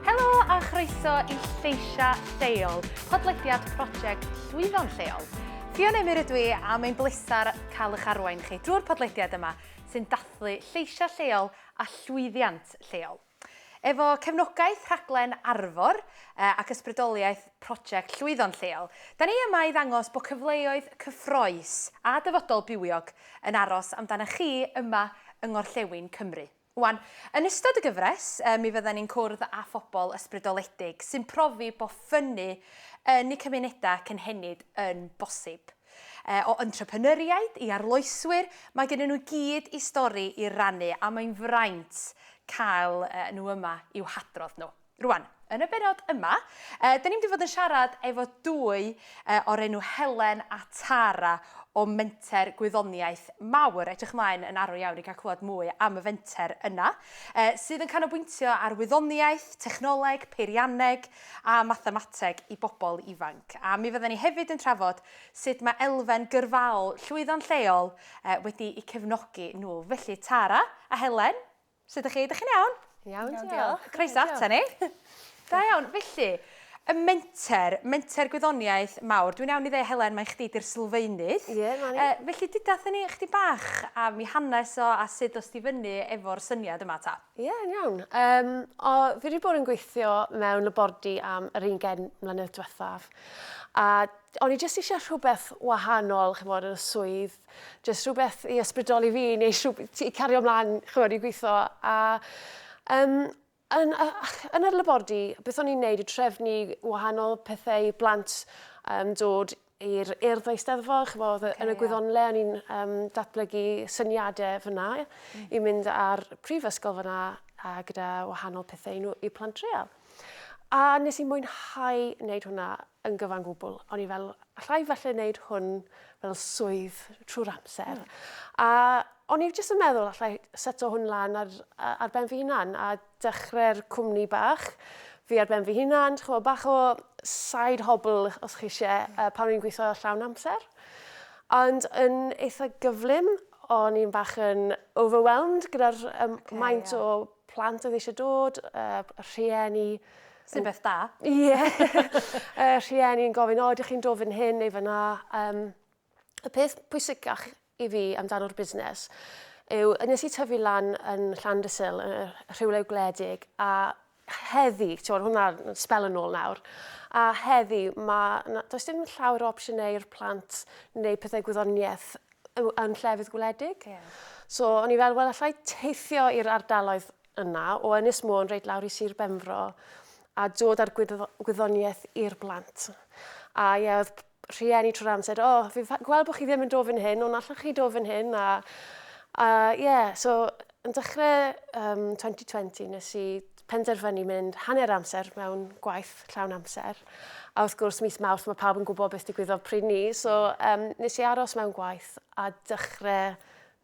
Helo a chroeso i Lleisia Lleol, podlediad prosiect Llwyddon Lleol. Ffion Emyr ydw i a mae'n bleser cael eich arwain chi drwy'r podlediad yma sy'n dathlu lleisia lleol a llwyddiant lleol. Efo cefnogaeth rhaglen Arfor ac ysbrydoliaeth Prosiect Llwyddo'n Lleol, 'da ni yma i ddangos bod cyfleoedd cyffrous a dyfodol bywiog yn aros amdanoch chi yma yng Ngorllewin Cymru. Ŵan, yn ystod y gyfres, mi fyddan ni'n cwrdd â phobl ysbrydoledig sy'n profi bod ffynnu yn eu cymunedau cynhenid yn bosib. E, o entrepreneuriaid i arloeswyr, mae gennyn nhw i gyd i stori i rannu a mae'n fraint cael nhw yma i'w hadrodd nhw. Rwan, yn y bennod yma, da ni'n mynd i fod yn siarad efo dwy o'r enw Helen a Tara o Menter Gwyddoniaeth Mawr. Edrych ymlaen yn arw iawn i gael clywed mwy am y fenter yna, sydd yn canolbwyntio ar wyddoniaeth, technoleg, peirianneg, a mathemateg i bobl ifanc, a mi fydden ni hefyd yn trafod sut mae elfen gyrfaol llwyddo'n lleol wedi eu cefnogi nhw. Felly, Tara a Helen, sut ydych chi? Ydych chi'n iawn? Iawn, diolch. Croeso ata ni. Da iawn. Felly, y menter, menter gwyddoniaeth mawr. Dwi'n iawn i ddeud, Helen, mae chdi di'r sylfaenydd. Ie, yeah, mae ni. Felly, dyda ni chdi bach am i hanes o a sut os di fyny efo'r syniad yma ta? Ie, yn iawn. Um, o, fi wedi bod yn gweithio mewn labordy am yr un gen mlynedd diwethaf. A o'n i jyst eisiau rhywbeth wahanol, chymod, yn y swydd. Jyst rhywbeth i ysbrydoli fi, neu rhywbeth i cario ymlaen, chymod, i gweithio. A um, yn, yn yr labordy, beth o'n i'n neud y trefnu wahanol pethau i blant um, dod i'r Urdd Eisteddfod, ch'mod, okay, yn y gwyddonle, o'n i'n um, datblygu syniadau fyna mm. i mynd ar prifysgol fyna a gyda wahanol pethau i, nhw, i plant real. A nes i mwynhau wneud hwnna yn gyfan gwbl. O'n i fel, allai falle wneud hwn fel swydd trwy'r amser. Mm. A o'n i jyst yn meddwl allai seto hwn lan ar, ar ben fy hunan a dechrau'r cwmni bach fi ar ben fy hunan, chymod, bach o side hobl os chi eisiau, uh, pan o'n gweithio llawn amser. Ond yn eitha gyflym, o'n i'n bach yn overwhelmed gyda'r um, okay, maint yeah. o plant oedd eisiau dod, uh, rhieni. Sy'n beth da. Ie. Yeah. uh, rhieni'n gofyn, o, ydych chi'n dod fan hyn neu fan na. Um, y peth pwysicach i fi amdano'r busnes yw nes i tyfu lan yn Llandysul, yn y rhywle gwledig, a heddi, ti'n hwnna spel yn ôl nawr, a heddi, mae, does dim llawer o opsiynau i'r plant neu pethau gwyddoniaeth yn llefydd gwledig. Yeah. So, o'n i fel, wel, allai teithio i'r ardaloedd yna, o Ynys Môn reit lawr i Sir Benfro, a dod â'r gwyddoniaeth i'r blant. A ie, oedd rhieni trwy'r amser, o, oh, fi'n gweld bod chi ddim yn dod fan hyn, ond allwch chi dod fan hyn, a, a yeah, so yn dechrau um, 2020 nes i penderfynu mynd hanner amser mewn gwaith llawn amser. A wrth gwrs, mis mawrth mae pawb yn gwybod beth digwyddodd pryd ni, so um, nes i aros mewn gwaith a dechrau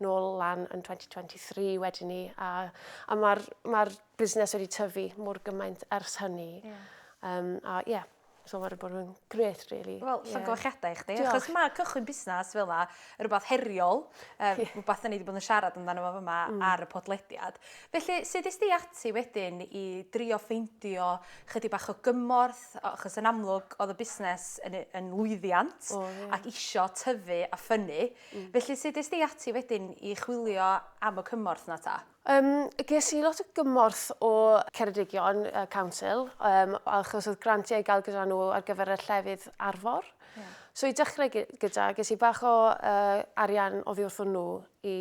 nôl lan yn 2023 wedyn ni, a, a mae'r ma busnes wedi tyfu mor gymaint ers hynny. Yeah. Um, a ie, yeah, So mae wedi bod yn gret, really. Wel, yeah. llongyfarchiadau i chdi. Diolch. Achos mae cychwyn busnes fel yna, rhywbeth heriol, um, yeah. rhywbeth ni wedi bod yn siarad amdano fo yma mm. ar y podlediad. Felly, sut ys di ati wedyn i drio ffeindio chydig bach o gymorth, achos yn amlwg oedd y busnes yn, yn lwyddiant oh, yeah. ac isio tyfu a ffynnu. Mm. Felly, sut ys di ati wedyn i chwilio am y cymorth na ta? Um, ges i lot o gymorth o Ceredigion uh, Council, um, achos oedd grantiau i gael gyda nhw ar gyfer y llefydd arfor. Yeah. So i dechrau gyda, ges i bach o uh, arian o ddiwrth nhw i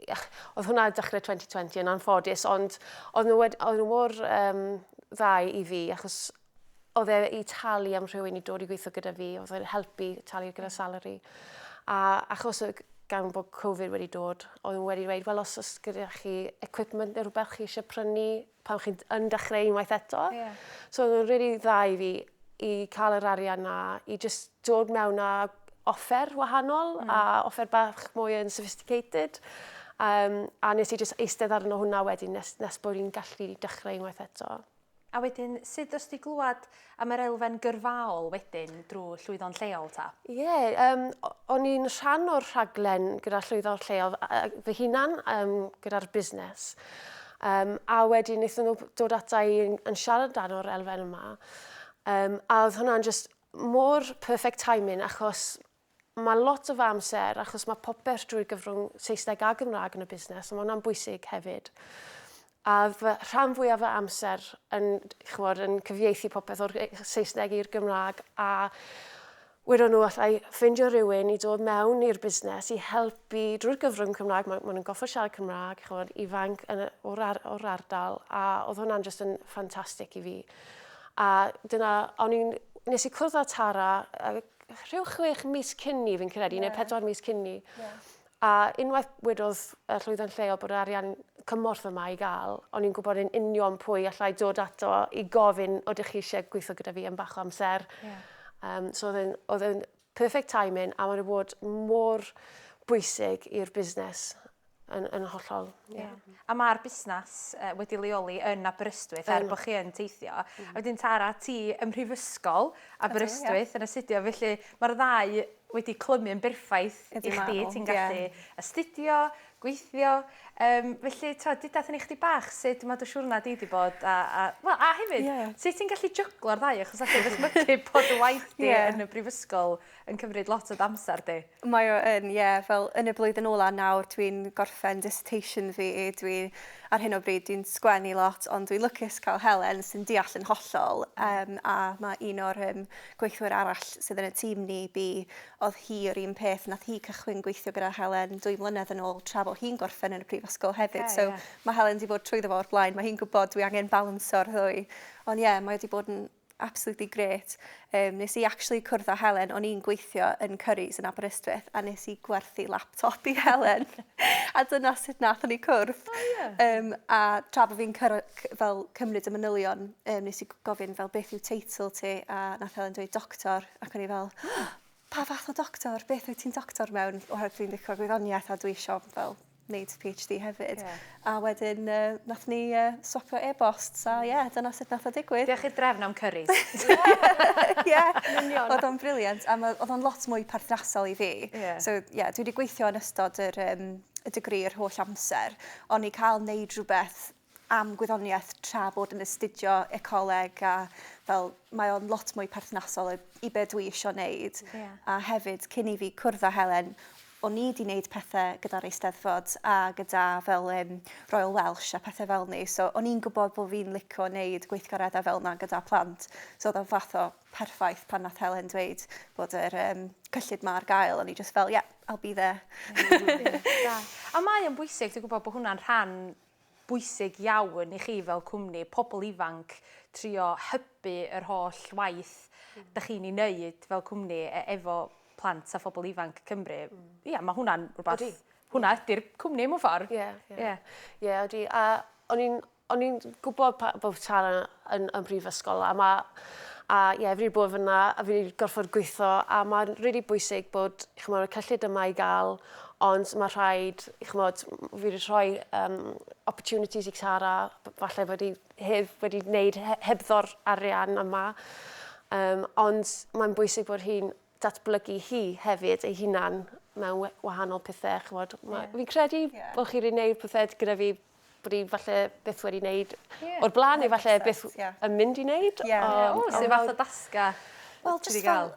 oedd hwnna dechrau 2020 yn anffodus, ond oedd nhw, oedd nhw mor um, ddau i fi, achos oedd e i talu am rhywun i dod i gweithio gyda fi, oedd e'n helpu talu gyda salary. A achos y gan bod Covid wedi dod, oedd wedi dweud, wel, os oes gyda chi equipment neu rhywbeth chi eisiau prynu pan chi'n yn dechrau unwaith eto. Yeah. So oedd yn really dda i fi i cael yr arian na, i just dod mewn a offer wahanol mm. a offer bach mwy yn sophisticated. Um, a nes i just eistedd arno hwnna wedyn nes, nes bod i'n gallu dechrau unwaith eto. A wedyn sud ddost ti glwad am yr elfen gyrfaol wedyn drwy llwyddo'n lleol ta? Ie, yeah, um, o'n i'n rhan o'r rhaglen gyda llwyddo'n lleol fy hunan um, gyda'r busnes. Um, a wedyn wnaethon nhw dod ata i yn, yn siarad dan o'r elfen yma. Um, a oedd hwnna'n just mor perfect timing achos Mae lot o fy amser, achos mae popeth drwy gyfrwng Saesneg a Gymraeg yn y busnes, a mae hwnna'n bwysig hefyd. A fy rhan fwyaf fy amser yn, chymod, yn cyfieithu popeth o'r Saesneg i'r Gymraeg a wedon nhw allai ffeindio rhywun i dod mewn i'r busnes i helpu drwy'r gyfrwng Cymraeg, maen ma nhw'n goffod siarad Cymraeg, chymod, ifanc yn, o'r, ar, or ardal, a oedd hwnna'n just yn ffantastig i fi. A dyna, o'n i'n, nes i cwrdd â Tara, rhyw chwech mis cyn ni, fi'n credu, yeah. neu pedwar mis cyn ni. Yeah. A unwaith wedodd y llwyddiant lleol bod arian cymorth yma i gael, o'n i'n gwybod yn union pwy allai dod ato i gofyn o ydych chi eisiau gweithio gyda fi am bach o amser. Yeah. Um, so oedd yn perfect timing a mae'n bod mor bwysig i'r busnes Yn, yn hollol, ie. Yeah. Yeah. A mae'r busnes uh, wedi leoli yn Aberystwyth er bod chi yn teithio. Mm. A wedyn Tara, ti ym Mhrifysgol Aberystwyth yeah. yn astudio, felly mae'r ddau wedi clymu yn berffaith i chdi. Ti'n gallu yeah. astudio, gweithio. Um, felly, tra, dyda thyn i chdi bach sut mae dy siwrna di wedi bod. A, a, well, a hefyd, yeah. sut ti'n gallu jyglo'r ddau? Achos allai ddysmygu bod y waith di yeah. yn y brifysgol yn cymryd lot o d'amser di. Mae o yn, ie, fel yn y blwyddyn ola nawr dwi'n gorffen dissertation fi, dwi ar hyn o bryd dwi'n sgwennu lot ond dwi'n lwcus cael Helen sy'n deall yn hollol um, a mae un o'r um, gweithwyr arall sydd yn y tîm ni bi, oedd hi o'r un peth, nath hi cychwyn gweithio gyda Helen dwy mlynedd yn ôl tra bod hi'n gorffen yn y prifysgol hefyd, okay, so yeah. mae Helen wedi bod trwyddo fo o'r blaen, mae hi'n gwybod dwi angen balanso'r ddwy, ond ie, yeah, mae wedi bod yn absolutely great. Um, nes i actually cwrdd â Helen, o'n i'n gweithio yn Curry's yn Aberystwyth, a nes i gwerthu laptop i Helen. a dyna sut nath o'n i cwrdd. Oh, yeah. um, a tra bod fi'n fel cymryd y manylion, um, nes i gofyn fel beth yw teitl ti, a nath Helen dweud doctor, ac o'n i fel, pa fath o doctor, beth wyt ti'n doctor mewn, oherwydd dwi'n ddichwa gwyddoniaeth a dwi eisiau fel neud PhD hefyd. Yeah. A wedyn uh, nath ni uh, swapio e-bost, so ie, yeah, dyna sut nath o digwydd. Diolch i'r drefn am cyrris. Ie, union. Oedd o'n briliant, a oedd o'n lot mwy perthnasol i fi. Yeah. So ie, yeah, dwi wedi gweithio yn ystod yr, um, y degri yr holl amser, ond i cael neud rhywbeth am gwyddoniaeth tra bod yn astudio ecoleg a fel mae o'n lot mwy perthnasol i, i be dwi eisiau wneud. Yeah. A hefyd, cyn i fi cwrdd â Helen, o'n i wedi wneud pethau gyda'r eisteddfod a gyda fel um, Royal Welsh a pethau fel ni. So o'n i'n gwybod bod fi'n licio wneud gweithgareddau fel yna gyda plant. So oedd o'n fath o perffaith pan nath Helen dweud bod yr um, cyllid ma ar gael. O'n i just fel, yeah, I'll be there. a mae o'n bwysig, dwi'n gwybod bod hwnna'n rhan bwysig iawn i chi fel cwmni, pobl ifanc, trio hybu yr holl waith dych chi'n ei wneud fel cwmni e- efo plant a phobl ifanc Cymru. Ia, mae hwnna'n rhywbeth... Ydi. ...hwnna ydy'r cwmni mewn ffordd. Ie, ie. Ie. Ie, ydi. A o'n i'n o'n i'n gwybod pa- bod Tara yn y brifysgol a mae a ie yeah, fi wedi bod fyna a fi wedi gorfod gweithio a mae'n rili really bwysig bod chymod, y cyllid yma i gael ond mae rhaid chymod, fi wedi rhoi um, opportunities i Cara falle bod i heb wedi wneud hebddo'r arian yma um, ond mae'n bwysig bod hi'n datblygu hi hefyd ei hunan mewn wahanol pethau chymod, yeah. fi'n credu yeah. bod chi'n gwneud pethau gyda fi bod i falle byth wedi wneud yeah. o'r blaen, neu falle byth yeah. yn mynd i wneud. Yeah. Um, oh, so fath o dasga Wel, just fel,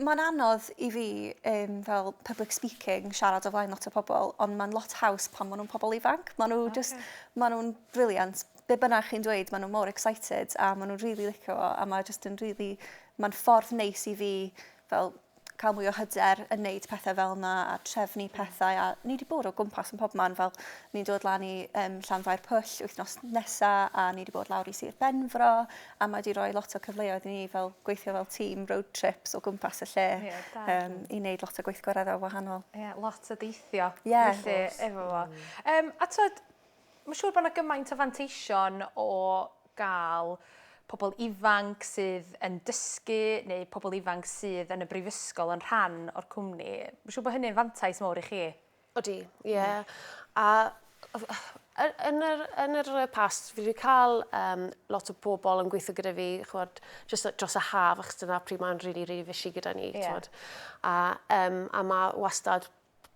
mae'n anodd i fi um, fel public speaking, siarad o flaen lot o pobl, ond mae'n lot haws pan maen nhw'n pobl ifanc. Maen nhw okay. just, maen nhw'n briliant. Be bynnag chi'n dweud, maen nhw'n mor excited a maen nhw'n really licio fo a mae'n just yn really, mae'n ffordd neis i fi fel cael mwy o hyder yn neud pethau fel yna a trefnu pethau a ni wedi bod o gwmpas yn pob man fel ni'n dod lan i um, Llanfair Pwll wythnos nesa a ni wedi bod lawr i Sir Benfro a mae wedi rhoi lot o cyfleoedd i ni fel gweithio fel tîm road trips o gwmpas y lle yeah, um, i wneud lot o gweithgareddau wahanol. Ie, yeah, lot o deithio yeah, felly efo fo. Um, a twyd, Mae'n siŵr bod yna gymaint o fanteision o gael pobl ifanc sydd yn dysgu neu pobl ifanc sydd yn y brifysgol yn rhan o'r cwmni. Mae'n siŵr bod hynny'n fantais mawr i chi. Odi, ie. A yn yr, yn yr past, fi wedi cael um, lot o bobl yn gweithio gyda fi, chwod, just dros y haf, achos dyna pryd mae'n rili, really, really fishy gyda ni. Yeah. A, um, a mae wastad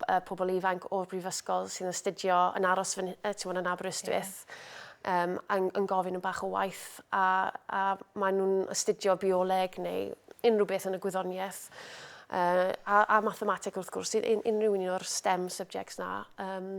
y pobl ifanc o'r brifysgol sy'n astudio yn aros fy, uh, yn Aberystwyth yeah. um, yn, yn gofyn yn bach o waith a, a maen nhw'n astudio bioleg neu unrhyw beth yn y gwyddoniaeth uh, a, a mathemateg wrth gwrs, un, unrhyw un o'r STEM subjects na. Um,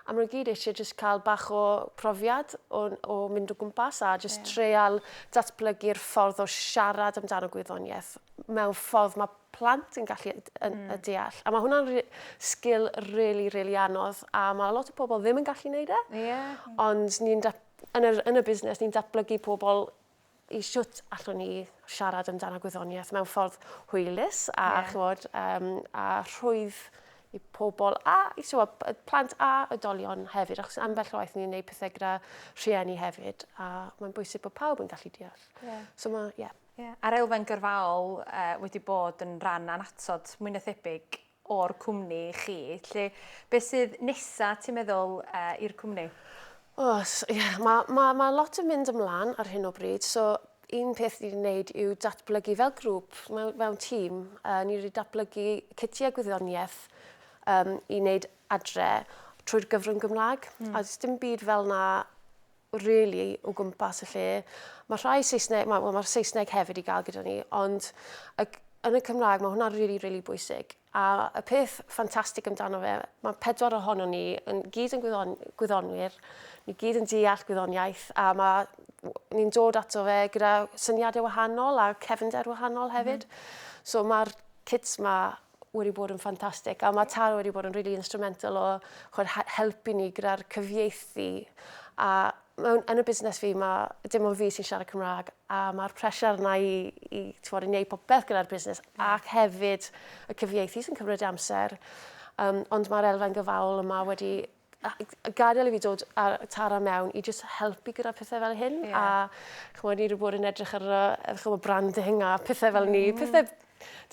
a maen nhw gyd eisiau just cael bach o profiad o, o mynd o gwmpas a just yeah. treial datblygu'r ffordd o siarad amdano gwyddoniaeth mewn ffordd mae plant yn gallu yn, mm. deall. A mae hwnna'n re sgil really, really anodd, a mae lot o pobl ddim yn gallu gwneud e. Yeah. Ond ni'n yn, y, yn y busnes, ni'n datblygu pobl i siwt allwn ni siarad amdano gwyddoniaeth mewn ffordd hwylus a, yeah. chwod, um, a rhwydd i pobl a i so, a, plant a ydolion hefyd, achos ambell waith ni'n gwneud pethau gyda rhieni hefyd, a mae'n bwysig bod pawb yn gallu deall. Yeah. So mae, yeah. Ie, a'r elfen gyrfaol yy wedi bod yn ran annatod mwy na thebyg o'r cwmni chi. Lle, beth sydd nesa ti'n meddwl yy i'r cwmni? Os, ie, yeah, mae ma, ma lot yn mynd ymlaen ar hyn o bryd, so un peth ni'n wneud yw datblygu fel grŵp, mewn, mewn tîm, uh, ni wedi datblygu cytiau gwyddoniaeth um, i wneud adre trwy'r gyfrwng Gymraeg, mm. a dim byd fel na rili o gwmpas y lle. Mae rhai Saesneg, mae, well, mae'r Saesneg hefyd i gael gyda ni, ond y, yn y Cymraeg mae hwnna'n rili, really, rili really bwysig. A y peth ffantastig amdano fe, mae pedwar ohono ni yn gyd yn gwyddon, gwyddonwyr, ni gyd yn deall gwyddoniaeth, a mae ni'n dod ato fe gyda syniadau wahanol a cefnder wahanol hefyd. Mm. So mae'r kids ma wedi bod yn ffantastig a mae Tara wedi bod yn really instrumental o chod, helpu ni gyda'r cyfieithu a mewn, yn y busnes fi mae dim ond fi sy'n siarad Cymraeg a mae'r pressure yna i, i, tywod, i wneud popeth gyda'r busnes ac hefyd y cyfieithu sy'n cymryd amser um, ond mae'r elfen gyfaol yma wedi a gadael i fi dod a Tara mewn i just helpu gyda pethau fel hyn. Yeah. A chymod, ni wedi bod yn edrych ar y chymod, branding a pethau fel ni. Mm. Pethau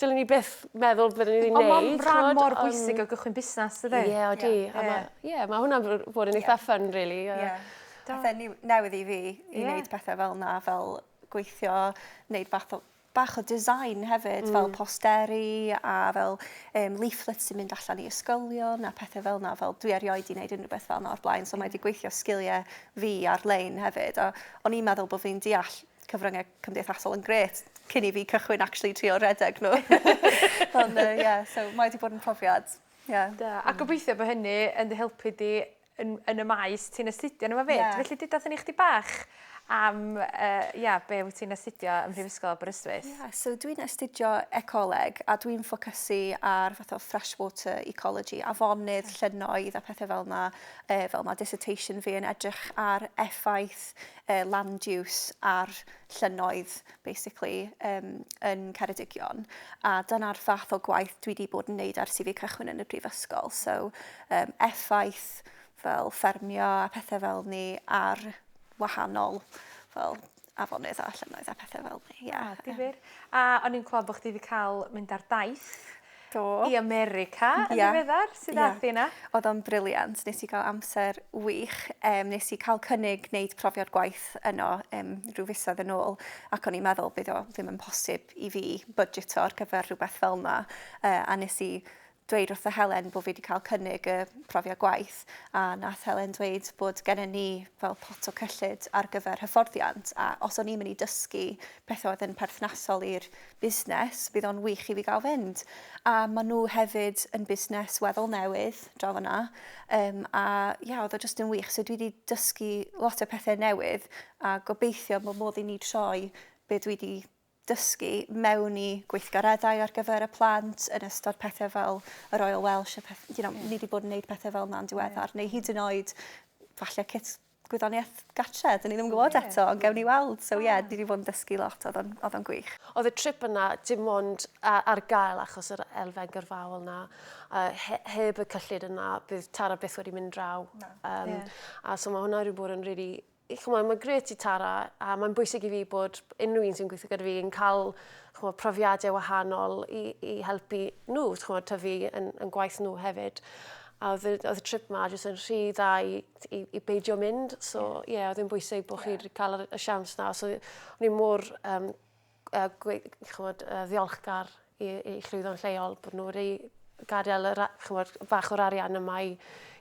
dylen ni beth meddwl byddwn ni'n gwneud. Ond mae'n rhan mor bwysig o gychwyn busnes, dydy? Ie, yeah, odi. Yeah. A yeah. yeah, mae hwnna'n bod yn eitha yeah. ffyn, really. Uh, yeah. Pethau newydd i fi i yeah. wneud pethau fel na, fel gweithio, wneud fath o bach o design hefyd, fel posteri a fel um, leaflets sy'n mynd allan i ysgolion a pethau fel yna. Fel, dwi erioed i wneud unrhyw beth fel yna o'r blaen, so mae wedi gweithio sgiliau fi ar-lein hefyd. A o'n i'n meddwl bod fi'n deall cyfryngau cymdeithasol yn gret cyn i fi cychwyn actually trio redeg nhw. Ond, uh, yeah, so mae wedi bod yn profiad. Yeah. Da. A gobeithio bod hynny yn dy helpu di yn, yn y maes ti'n astudio nhw fyd. Yeah. Felly dydwch yn i chdi bach am, uh, ia, be wyt ti'n astudio ym Mhrifysgol Aberystwyth? Ie, yeah, so dwi'n astudio ecoleg a dwi'n ffocysu ar fath o freshwater ecology, afonydd, okay. llynnoedd a pethau fel yna. E, fel mae dissertation fi yn edrych ar effaith e, land use ar llynnoedd, basically, um, yn Ceredigion. A dyna'r fath o gwaith dwi wedi bod yn neud ar CV cychwyn yn y brifysgol. So, yym effaith fel ffermio a pethe fel 'ny ar wahanol fel afonydd a llynnoedd a pethe fel 'ny ie. O difir. A o'n i'n clwad bo' chdi 'di ca'l mynd ar daith. Do. I America yn ddiweddar. Sud ath di yna? Odd o'n brilliant nes i ga'l amser wych yym nes i ca'l cynnig neud profiad gwaith yno yym rhyw fisoedd yn ôl ac o'n i'n meddwl bydd o ddim yn posib i fi bydgeto ar gyfer rhywbeth fel 'na yy a nes i dweud wrtho Helen bod fi wedi cael cynnig y profiad gwaith a nath Helen dweud bod gennym ni fel pot o cyllid ar gyfer hyfforddiant a os o'n i'n mynd i dysgu pethau oedd yn perthnasol i'r busnes, bydd o'n wych i fi gael fynd. A maen nhw hefyd yn busnes weddol newydd draw fyna um, a ia, oedd o jyst yn wych. So dwi wedi dysgu lot o pethau newydd a gobeithio bod modd i ni troi be dwi wedi dysgu mewn i gweithgareddau ar gyfer y plant yn ystod pethau fel y Royal Welsh, a peth, you know, yeah. ni wedi bod yn gwneud pethau fel yna'n diweddar, yeah. neu hyd yn oed falle cit gwyddoniaeth gartre, dyn ni ddim yn gwybod yeah. eto, ond gewn ni weld. So ie, yeah, ni wedi bod yn dysgu lot, oedd o'n gwych. Oedd y trip yna dim ond ar gael achos yr elfen gyrfaol yna. Uh, he, heb y cyllid yna, bydd Tara byth wedi mynd draw. No. Um, yeah. A so mae hwnna wedi bod yn really ch'mod mae'n grêt i Tara a mae'n bwysig i fi bod unrhyw un sy'n gweithio gyda fi yn cael ch'mod profiadau wahanol i i helpu nhw ch'mod tyfu yn yn gwaith nhw hefyd. A oedd y oedd y trip 'ma jyst yn rhy dda i i i beidio mynd so ie oedd e'n bwysig bo' chi 'di ca'l yr y siawns 'na so o'n i mor yym a gwe- ch'mod yy ddiolchgar i i llwyddo'n lleol bod nhw wedi gadael yr a- ch'mod bach o'r arian yma i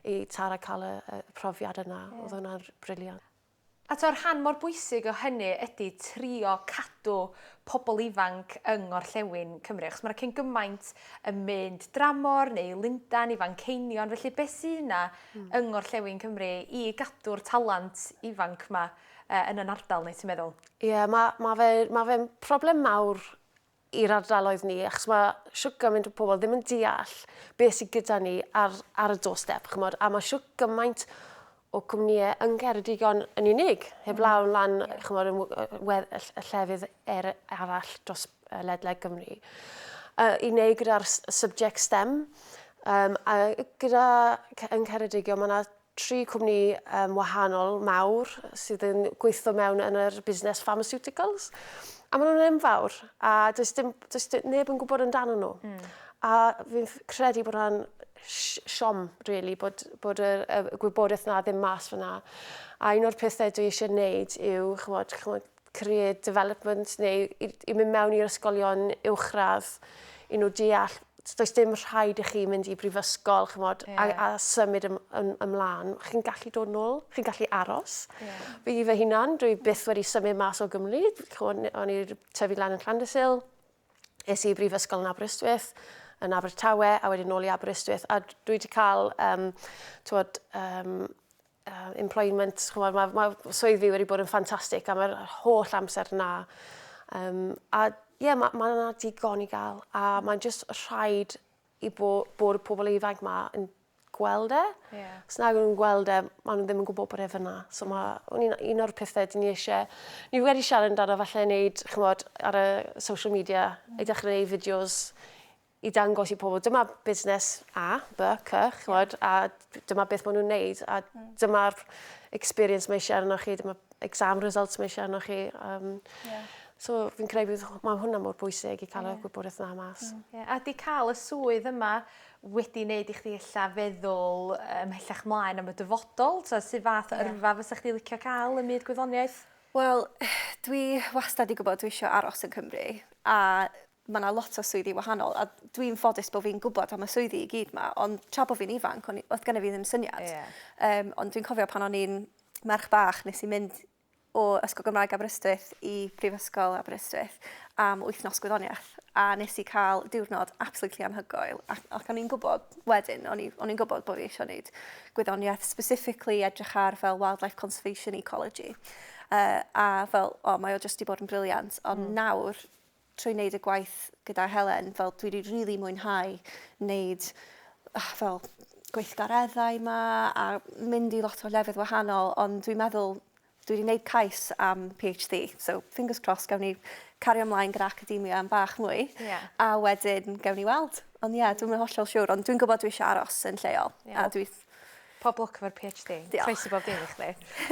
i Tara cael y y profiad yna. Ie. O'dd hwnna'n r- briliant. A t'o' rhan mor bwysig o hynny ydi trio cadw pobol ifanc yng ngorllewin Cymru achos ma' 'na cyn gymaint yn mynd dramor neu Lundan i Fanceinion felly be' sy 'na... Hmm. ...yng ngorllewin Cymru i gadw'r talant ifanc 'ma yy yn 'yn ardal ni ti'n meddwl? Ie, ma' ma' fe ma' fe'n problem mawr i'r ardaloedd ni achos ma' shwt gymaint o pobl ddim yn deall beth sydd gyda ni ar ar y doorstep ch'mod a ma' shwt gymaint o cwmnïe yn Ceredigion yn unig heblaw yn lan ch'mod yn w- yy wedd- y ll- y llefydd er- arall dros yy ledled Cymru. Yy i wneud gyda'r s- subject stem yym a gyda ce- yn Ceredigion ma' 'na tri cwmni um, wahanol mawr sydd yn gweithio mewn yn yr busnes pharmaceuticals. A maen nhw'n enfawr, a does, dim, does dim, neb yn gwybod amdano nhw. Mm. A fi'n credu bod hwnna'n siom, really, bod, bod y, y gwybodaeth na ddim mas fyna. A un o'r pethau dwi eisiau gwneud yw, chymod, chymod, career development neu i, i mynd mewn i'r ysgolion uwchradd i nhw deall does dim rhaid i chi mynd i brifysgol chymod, yeah. a, a symud ym, ym, ymlaen. Chi'n gallu dod nôl, chi'n gallu aros. Yeah. Fi fy hunan, dwi byth wedi symud mas o Gymru. O'n i'r tyfu lan yn Llandysil, es i brifysgol yn Aberystwyth, yn Abertawe, a wedyn nôl i Aberystwyth. A dwi wedi cael um, twod, um, uh, employment, chymod, mae, mae swydd fi wedi bod yn ffantastig am yr holl amser yna. Um, a ie, yeah, mae ma yna digon i gael, a mm. mae'n just rhaid i bo, bod y pobl ifanc yma yn gweld e. Yeah. Os nag nhw'n gweld e, maen nhw ddim yn gwybod bod e fyna. So mm. mae un, un o'r pethau dyn ni eisiau... Ni wedi siarad amdano falle wneud, chymod, ar y social media, mm. i ddechrau gwneud fideos i dangos i pobl dyma busnes A, B, C, ch'mod, a dyma beth maen nhw'n neud, a hmm. dyma'r experience mae eisiau arnoch chi, dyma exam results mae eisiau arnoch chi. Um, yeah. So fi'n credu bod mae hwnna mor bwysig i cael yeah. y gwybodaeth yna mas. Mm. Yeah. A di cael y swydd yma wedi wneud i chdi illa feddwl ymhellach mlaen am y dyfodol? Ta sydd fath yeah. yrfa fysa chdi licio cael ym myd gwyddoniaeth? Wel, dwi wastad i gwybod dwi eisiau aros yn Cymru. A mae 'na lot o swyddi wahanol a dwi'n ffodus bod fi'n gwybod am y swyddi i gyd 'ma, ond tra bod fi'n ifanc, o'n i, oedd gennyf fi ddim syniad. Ie. Um, ond dwi'n cofio pan o'n i'n merch bach, nes i mynd o Ysgol Gymraeg Aberystwyth i Prifysgol Aberystwyth am wythnos gwyddoniaeth, a nes i cael diwrnod absolutely anhygoel, ac, ac o'n i'n gwybod wedyn, o'n i'n gwybod bod fi eisiau gwneud gwyddoniaeth, specifically edrych ar fel wildlife conservation ecology, uh, a fel, o, mae o jyst i bod yn briliant, ond mm. nawr trwy wneud y gwaith gyda Helen, fel dwi wedi rili mwynhau wneud ah, fel gweithgareddau ma a mynd i lot o lefydd wahanol, ond dwi'n meddwl dwi wedi gwneud cais am PhD, so fingers crossed gawn ni cario ymlaen gyda academia am bach mwy, yeah. a wedyn gawn ni weld. Ond ie, yeah, dwi'n mynd hollol siwr, ond dwi'n gwybod dwi eisiau aros yn lleol. Yeah. A dwi... Pob lwc efo'r PhD. Diolch. Croeso bob dim i chdi.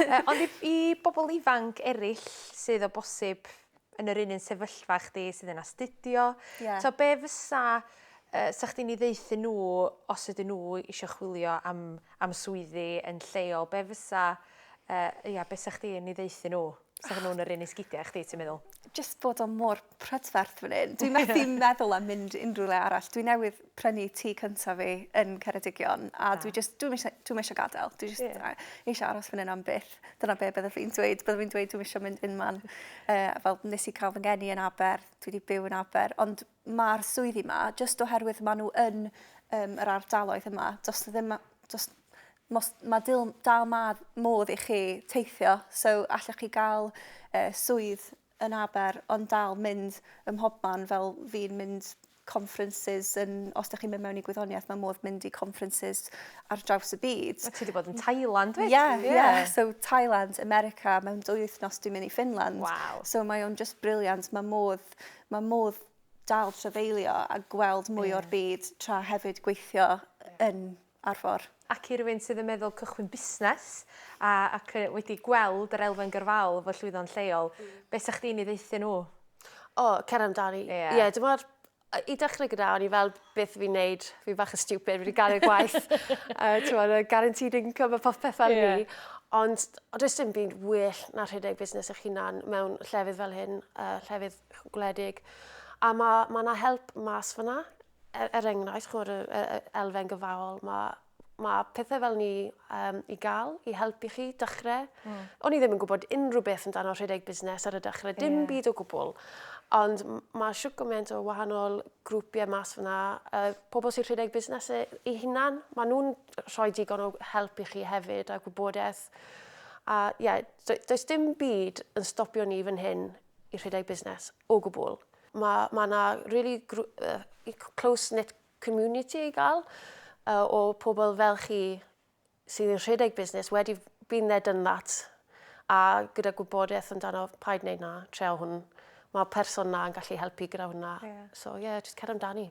uh, ond i, i bobl ifanc eraill sydd o bosib yn yr un un sefyllfa â chdi sydd yn astudio. Yeah. So be fysa, uh, sa chdi'n ei ddeithu nhw os ydyn nhw eisiau chwilio am, am swyddi yn lleol, be fysa, uh, ia, be sa chdi'n ei ddeithu nhw? Sa nhw'n yr un i sgidiau chdi, ti'n meddwl? Just bod o mor prydferth fan hyn. Dwi'n methu meddwl am mynd unrhyw le arall. Dwi'n newydd prynu tŷ cyntaf fi yn Ceredigion a ah. dwi just, dwi'n eisiau, dwi eisiau gadael. Dwi just yeah. eisiau aros fan hyn am byth. Dyna be byddaf fi'n dweud. Byddaf fi'n dweud dwi'n eisiau mynd unman. Uh, fel nes i cael fy ngeni yn Aber, dwi wedi byw yn Aber. Ond mae'r swyddi yma, jyst oherwydd maen nhw yn um, yr ardaloedd yma, does ddim... Does, mos, mae dil, dal ma, modd i chi teithio, so allwch chi gael uh, swydd yn Aber ond dal mynd ym mhobman fel fi'n mynd conferences yn os dych chi'n mynd mewn i gwyddoniaeth mae modd mynd i conferences ar draws y byd. Wyt ti wedi bod yn Thailand wyt? Yeah, yeah, yeah. So Thailand, America, mewn dwy wythnos dwi'n mynd i Finland. Wow. So mae o'n just brilliant, mae modd, mae modd dal trafeilio a gweld mwy yeah. o'r byd tra hefyd gweithio yn ar for. Ac i rywun sydd yn meddwl cychwyn busnes a ac yy wedi gweld yr elfen gyrfaol efo llwyddo'n lleol be' 'sach chdi'n 'i ddaethu nhw? O, cer amdani. Ie. Ie, dw'mod yy i dechrau gyda o'n i fel beth fi'n neud, fi bach yn stupid fi 'di gadel gwaith yy t'mod y guaranteed income a popeth fel 'ny. Ie. Ond o- does dim byd well na rhedeg busnes eich hunan mewn llefydd fel hyn yy llefydd gwledig a ma' ma' 'na help mas fynna Er, er enghraifft, chymod, y, y, y elfen gyfaol, mae ma pethau fel ni um, i gael, i helpu chi dechrau. Mm. O'n i ddim yn gwybod unrhyw beth amdano rhedeg busnes ar y dechrau, dim yeah. byd o gwbl. Ond mae siw gymaint o wahanol grwpiau mas fyna, uh, pobl sy'n rhedeg busnes e, i hunan, maen nhw'n rhoi digon o help i chi hefyd a gwybodaeth. A ie, yeah, does dim byd yn stopio ni fan hyn i rhedeg busnes o gwbl. Mae ma yna really uh, close-knit community i gael uh, o pobl fel chi sydd yn rhedeg busnes wedi been there done that a gyda gwybodaeth amdano paid wneud na, treo hwn. Mae person na yn gallu helpu gyda hwnna. Yeah. So yeah, just cer amdani.